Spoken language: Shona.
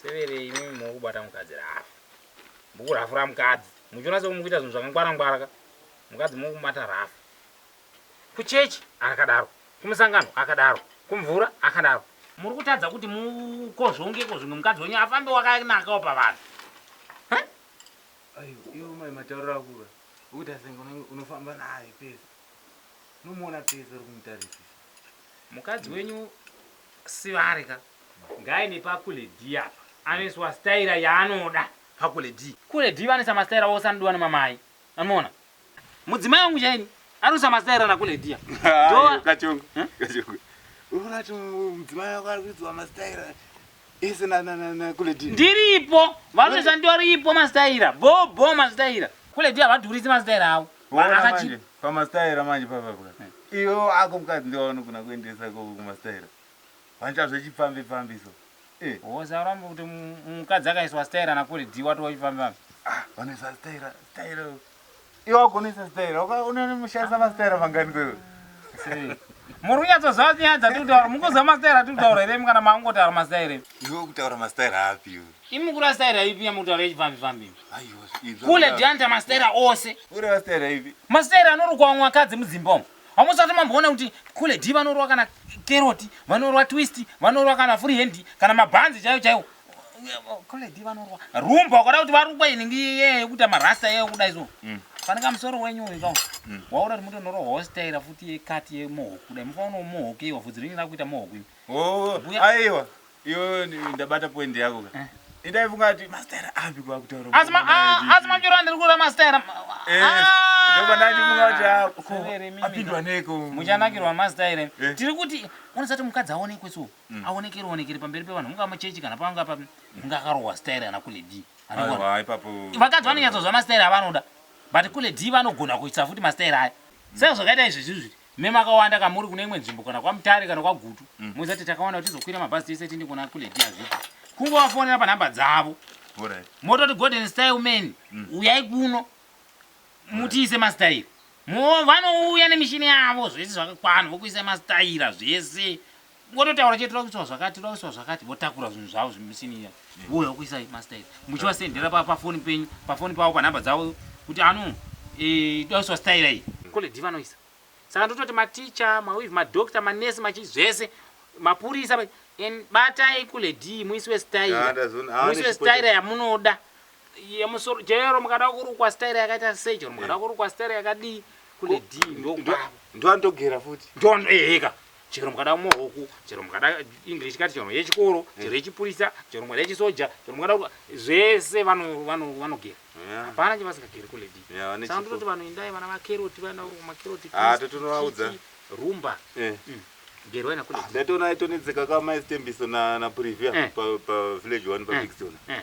severe imimi muri kubata mukadzi rafu muri kurafura mukadzi muchiona sekuti muri kuita zvinhu zvakangwara ngwara ka mukadzi muri kumubata rafu kuchechi akadaro kumusangano akadaro kumvura akadaro muri kutadza kuti mukozvongeko zvimwe mukadzi wenyu afambe wakanakawo pavanhu ayo iwo mai matauriro akura ukuti asenge unofamba naye pese unomuona pese uri kumutarisisa mukadzi wenyu Sivari ka. Ngaaende pakule D apa anoiswa staira yaanoda. Pakule D. Kule D vanoisa mastaira ose anodiwa nemamai. Anoona. Mudzimai wangu chaini anoisa mastaira nakule D apa. Iwe kachongo. Kachongo. Unoona kuti mudzimai wako ari kuiswa mastaira ese nakule D. Ndiripo. Vanoisa ndoripo mastaira. Bho bho mastaira. Kule D havadhurise mastaira avo. Manje pamastaira manje pavabwa iyo ako mukadzi ndiwo anogona kuendesa ikoko kumastaira vancha zvechipfambi pfambi so eh. wosarambe kuti mukadzi akaiswa staira nakuri dhi wati wachipfambipfambi ah, vanoisa staira staira iwe wagonesa staira unomushandisa mastaira mangani kwewe muri kunyatsoziva kuti nyaya dzatiri kutaura mukuzva mastaira atiri kutaura here mukana maangotaura mastaira iwe kutaura mastaira api iwe Imi mukureva staira ipi yamuri kutaura yechipfambi pfambi imi? Aiwa, ibza Kule kudaro. Dianta mastaira ose. Kureva staira ipi? Mastaira anorukwa vamwe vakadzi mudzimba umu. Hamusati mamboona kuti Kule D vanorwa kana keroti, vanorwa twist, vanorwa kana free hand, kana mabhanzi chaiwo chaiwo. Kule D vanorwa. Rumba ukada kuti varukwe inenge iye yekuti amarasta iye kuda izo. Pane kamusoro wenyu uyu kawo. Waura kuti mutonoro hostaira futi yekati yemohoku. Dai mufaona umohoku iwa vhudzi renyu rakuita mohoku. imi. Oh, Mbuya- aiwa. Iwe ndabata point yako ka. Eh. Ndaifunga kuti master api kwa kutaura. Asi ma asi mamjora ndiri kura master. Eh. Ah! Ndoba ndachifunga kuti ah, apindwa neko. Muchanakirwa master ire. Eh. Tiri kuti unosati mukadzi aonekwe so. Mm. Aonekere onekere pamberi pevanhu. Unga machechi kana panga pa unga karowa style ana kule D. Aiwa ipapo. Vakadzi vanonyatso zva master avanoda. But kule D vanogona kuitsa futi master aya. Saka zvakaita izvi zvizvi. Me, Makawanda ka muri kune imwe nzvimbo kana kwaMutare kana kwaGutu mozati takawanda kuti tizokwira mabhazi tese tiende kuna kulady Azvita. Kungovafonera panhamba dzavo. Alright. Mototi Golden Style men uyai kuno mutiise masitayira. Mo vanouya nemishini yavo zvese zvakakwana vokuisa masitayira zvese Vototaura chete toda kuiswa zvakati toda kuiswa zvakati votakura zvinhu zvavo zvemuchini iya vouya kuisai mastairi muchivasendera pa- pafoni penyu pafoni pavo panhamba dzavo kuti ano eh, toda kuiswa staira iyi koledi vanoisa saka ndototi maticha mawivi madokita manesi machi zvese mapurisa ma- en- batai kuledii muiswe Ah, staira ndazviona. Ah, muiswe nechipo staira yamunoda yemusoro chero mukada kurukwa staira yakaita sei chero mukada kurukwa staira yakadii kuledii ndokwavo ndoanotogera futi ndono eheka chero mukada kumwa huku chero mukada english kati chero yechikoro mm. chero yechipurisa chero mukada yechisoja chero mukada zvese vanogera hapana chevasingageri kuledi saka ndototi vanhu indai vana vakeroti vana makeroti ah, totonovaudza rumba eh. mm. gerwai nakuledi ah, ndatoona aitonetseka kamaistembiso naprivia eh. pavillage one pabigstona eh.